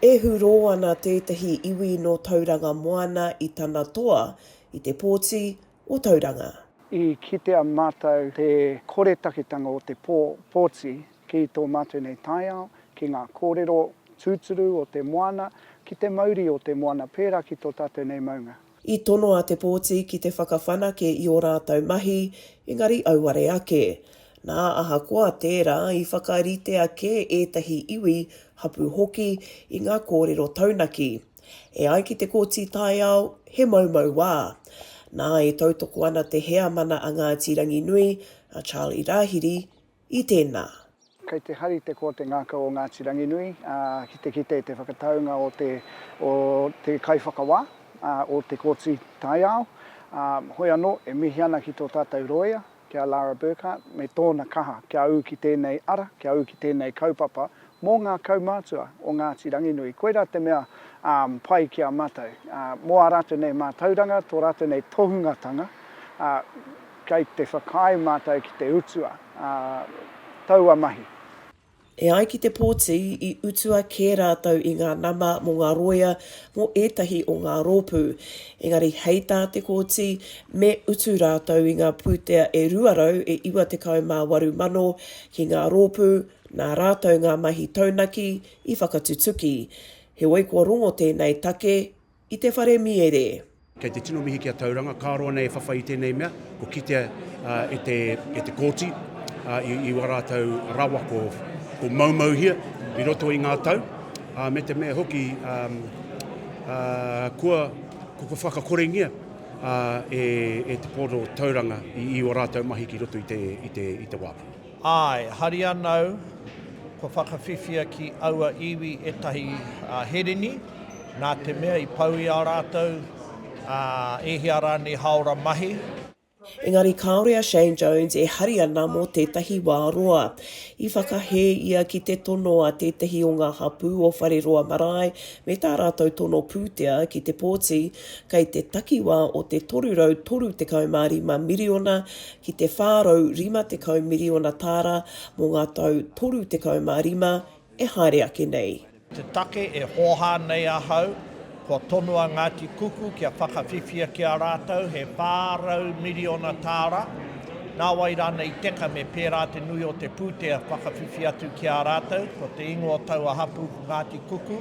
E hurō ana tētahi iwi nō Tauranga Moana i tana toa i te pōti o Tauranga. I kitea mātou te koretaketanga o te pō, pōti, ki tō mātou nei taiao, ki ngā kōrero tūturu o te moana, ki te mauri o te moana pērā ki tō tātou nei maunga. I tono a Te Pōti ki te whakawhanake i ō rātou mahi, engari auare ake. Nā, ahakoa tērā, i whakaritea kē ētahi iwi, hapū hoki, i ngā kōrero taunaki. E ai ki te Kōti Taiao, he moumou wā. Nā, e tautoko ana te heamana a Ngāti Ranginui, a Charlie Rahiri, i tēnā. Kei te hari te koa te ngākau o Ngāti Ranginui ki te kite i te whakataunga o te o te kaiwhakawā, o te Kōti Taiao. Hoi anō, e mihi ana ki tō tātou rōia, ki a Lara Burkhart, me tōna kaha kia ū ki tēnei ara, kia ū ki tēnei kaupapa Mō ngā kaumātua o Ngāti Ranginui, koirā te mea pai ki a mātou. Mō ā rātou nei mātauranga, tō rātou nei tohungatanga, kei te whakaae mātou ki te utua taua mahi. E ai ki te pōti, i utua kē rātou i ngā nama mō ngā rōia mō ētahi o ngā rōpū. Engari hei tā Te Kooti, me utu rātou i ngā pūtea e 298 mano ki ngā rōpū, Nā rātou ngā mahi taunaki i whakatutuki, heoi kua rongo tēnei take i te whare mīere. Kei te tino mihi ki a Tauranga, ka roa nei e whawhai i tēnei mea, kua kitea e te e te Kōti i wā rātou rawa ko ko maumauhia i roto i ngā tau, me te mea hoki kua kua whakakorengia e e te Pōro Tauranga i i ō rātou mahi ki roto i te i te i te wā. Āe, hari anau, kua whakawhiwhia ki aua iwi ētahi hereni, nā te mea i pau i a rātou e hia rānei hāora mahi. Engari kāore a Shane Jones e hari ana mō tētahi wā roa. I whakahē ia ki te tono a tētahi o ngā hapū o Whareroa Marae me tā rātou tono pūtea ki te pōti kei te takiwā o te 335 miriona ki te 450 miriona tāra mō ngā tau 35 e haere ake nei. Te take e hōhā nei ahau, kua tonu a Ngāti Kuku kia whakawhiwhia ki a rātou he 400 miriona tāra, nāwai rānei teka me pērā te nui o te pūtea whakawhiwhi atu ki a rātou, ko te ingoa o taua hapū ko Ngāti Kuku,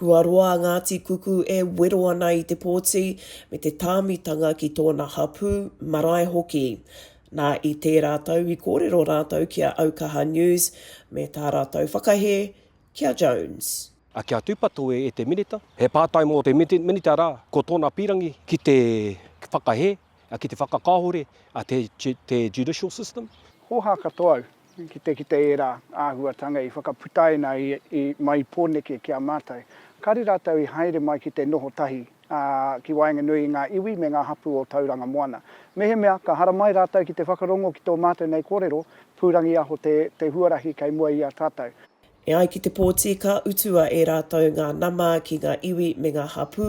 Kua roa a Ngāti Kuku e wero ana i te pōti me te tāmitanga ki tōna hapū, marae hoki. Nā, i tērā tau i kōrero rātou ki a Aukaha News me tā rātou whakahē ki a Jones. Ake a Tūpato e te Minita. He pātai mō te Minita rā, ko tōna pīrangi ki te whakahē Ki te whakakahore te judicial system. Hōhā katoa au ki te kite ērā āhuatanga i whakaputaina i mai i Pōneke ki a mātou. Kāre rātou i haere mai ki te noho tahi ki waenganui i ngā iwi me ngā hapū o Tauranga Moana. Mehemea ka haramai rātou ki te whakarongo ki tō mātou nei kōrero, pūrangiaho te huarahi kei mua i a tātou. E ai ki te pōti ka utua e rātou ngā nama ki ngā iwi me ngā hapū,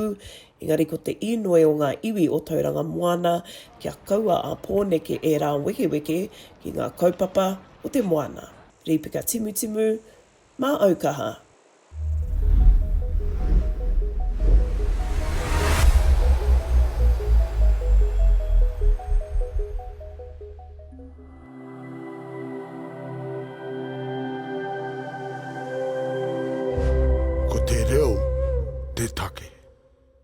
engari ko te īnoi o ngā iwi o Tauranga Moana kia kaua a Pōneke ērā wekeweke ki ngā kaupapa o te moana. Rīpeka Timutimu, Māau kaha. Ko te reo te take.